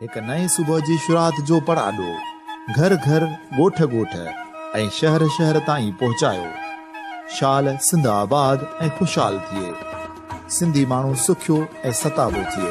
هڪ نئين صبح جي شروعات جو پڙاڏو گهر گهر، ڳوٺ ڳوٺ ۽ شهر شهر تائين پهچايو. شال سنڌ آباد ۽ خوشحال ٿئي. سنڌي ماڻهو سکيو ۽ ستابو ٿئي.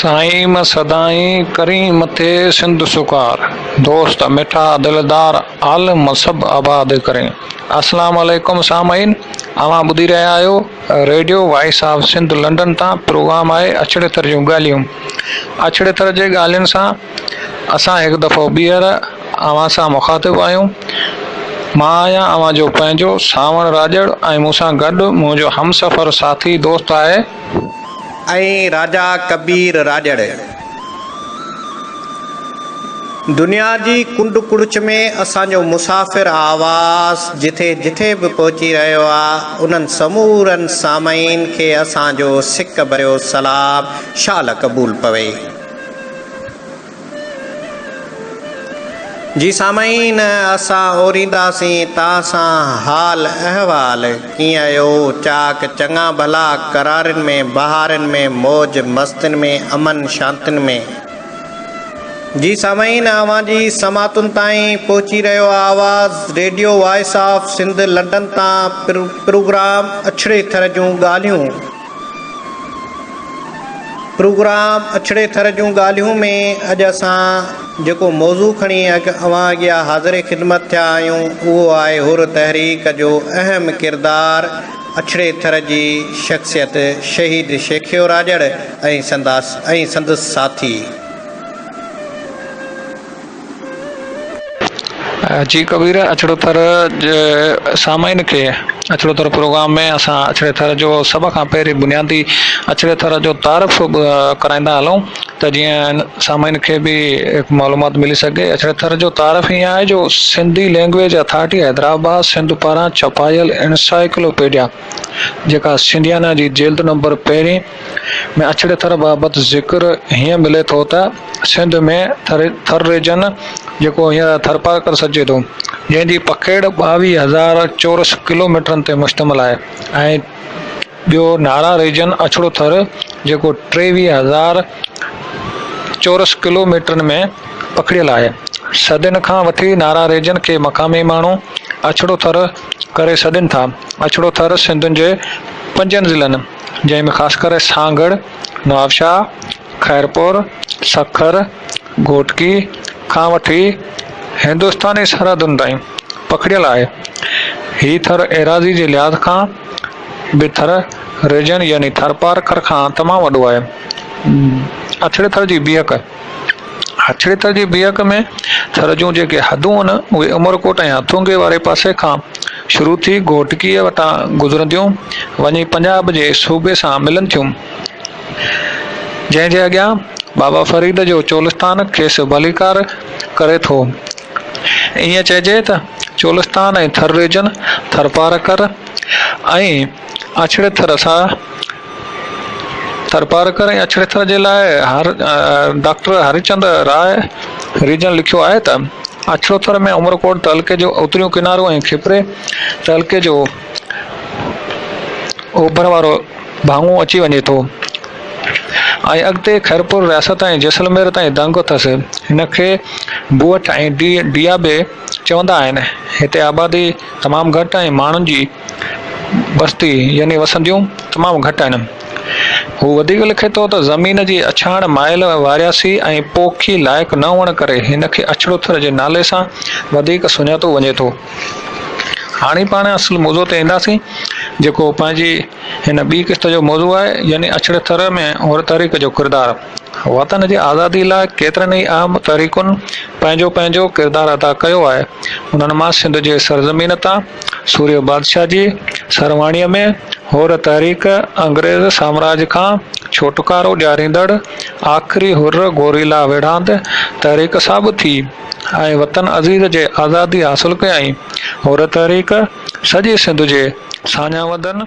سائين م سدائين ڪرين مٿي سنڌ سڪار دوست مٺا دلدار عالم م سڀ آباد ڪرين اسلام عليڪم سامعين اوهان ٻڌي رهيا آهيو radio voice of Sindh London تان پروگرام آهي اڇڙي ٿر جون ڳالهيون اڇڙي ٿر جي ڳالهين سان اسان هڪ دفعو ٻيهر اوهان سان مخاطب آهيون مان آهيان اوهان جو پنهنجو سانوڻ راڄڙ ۽ مون سان گڏ منهنجو همسفر ساٿي دوست آهي ۽ راجا ڪبير راڄڙ دنيا جي ڪنڊ ڪڙڇ ۾ اسان جو مسافر آواز جٿي جٿي به پهچي رهيو آ انهن سمورن سامعين کي اسان جو سڪ ڀريو سلام شال قبول پوي. جي سامعين اسان اورينداسين تان سان حال احوال ڪيئن اهو چاڪ چڱا ڀلا قرارين ۾ بهارين ۾ موج مستين ۾ امن شانتين ۾ جي سامعين اوهان جي سماعتن تائين پهچي رهيو آواز radio voice of Sindh London تان پروگرام اڇڙي ٿر جون ڳالهيون پروگرام اڇڙي ٿر جون ڳالهيون ۾ اڄ اسان جيڪو موضوع کڻي اوهان اڳيان حاضر خدمت ٿيا آهيون اهو آهي حر تحريڪ جو اهم ڪردار اڇڙي ٿر جي شخصيت شهيد شيخيو راڄڙ ۽ سندس ساٿي جي ڪبير اڇڙو ٿر جي سامعين کي اڇڙو ٿر پروگرام ۾ اسان اڇڙي ٿر جو سڀ کان پهرين بنيادي اڇڙي ٿر جو تعارف ڪرائيندا هلون ته جيئن سامعين کي به معلومات ملي سگهي اڇڙي ٿر جو تعارف ائين آهي جو سنڌي لينگويج اٿارٽي حيدرآباد سنڌ پاران ڇپايل انسائيڪلو پيڊيا جيڪا سنڌيانا جي جلد نمبر پهرين ۾ اڇڙي ٿر بابت ذڪر هيئن ملي ٿو ته سنڌ ۾ ٿر ريجن جيڪو هينئر ٿرپارڪر سڏجي ٿو جنهن جي پکيڙ ٻاويهه هزار چورس ڪلوميٽرن تي مشتمل آهي ۽ ٻيو نارا ريجن اڇڙو ٿر جيڪو ٽيويهه هزار چورس ڪلوميٽرن ۾ پکڙيل آهي صدين کان وٺي نارا ريجن کي مقامي ماڻهو اڇڙو ٿر ڪري سڏين ٿا اڇڙو ٿر سنڌ جي پنجن ضلعن جنهن ۾ خاص ڪري سانگهڙ، نوابشاهه، خيرپور، سکر، گهوٽڪي کان وٺي هندستاني سرحدن تائين پکڙيل آهي. هي ٿر ايراضي جي لحاظ کان به ٿر ريجن يعني ٿرپارڪر کان تمام وڏو آهي. اڇڙي ٿر جي بيهڪ. هٿڙي تر جي بيهڪ ۾ ٿر جون جيڪي حدون هن اهي عمرڪوٽ ۽ هٿونگي واري پاسي کان شروع ٿي گهوٽڪيء وٽان گذرنديون وڃي پنجاب جي صوبي سان ملن ٿيون جنهن جي اڳيان بابا فريد جو چولستان کيس ڀليڪار ڪري ٿو ائين چئجي ته چولستان ۽ ٿر ريجن ٿرپارڪر ۽ اڇڙي ٿر سا ٿرپارڪر ۽ اڇڙيٿر جي لاء ڊاڪٽر هريچند راء ريجن لکيو آهي ته، اڇڙوٿر ۾ عمرڪوٽ تعلقي جو اتريون ڪنارو ۽ کپري تعلقي جو اوڀر وارو ڀاڱو اچي وڃي ٿو ۽ اڳتي خيرپور رياست ۽ جيسلمير تائين دنگ اٿس. هن کي بوهٺ ۽ ڊيا به چوندا آهن. هتي آبادي تمام گهٽ ۽ ماڻهن جي بستي يعني وسنديون تمام گهٽ آهن. هو وڌيڪ لکي ٿو ته زمين جي اڇاڻ مائل وارياسي ۽ پوکي لائق نه هئڻ ڪري هن کي اڇڙو ٿر جي نالي سان وڌيڪ سڃاتو وڃي ٿو. هاڻي پاڻ اصل موضوع تي اينداسين جيڪو پنهنجي هن ٻي قسط جو موضوع آهي يعني اڇڙي ٿر ۾ هر تاريخ جو ڪردار. وطن جي آزادي لاء ڪيترن ئي اهم تحريڪن پنهنجو پنهنجو ڪردار ادا ڪيو آهي. انهن مان سنڌ جي سرزمين تان سورهيه بادشاهه جي سرواڻيء ۾ حر تحريڪ، انگريز سامراج کان ڇوٽڪارو ڏياريندڙ آخري حر گوريلا ويڙهاند تحريڪ ثابت ٿي ۽ وطن عزيز جي آزادي حاصل ڪيائين. حر تحريڪ سڄي سنڌ جي ساڃاهه وندن،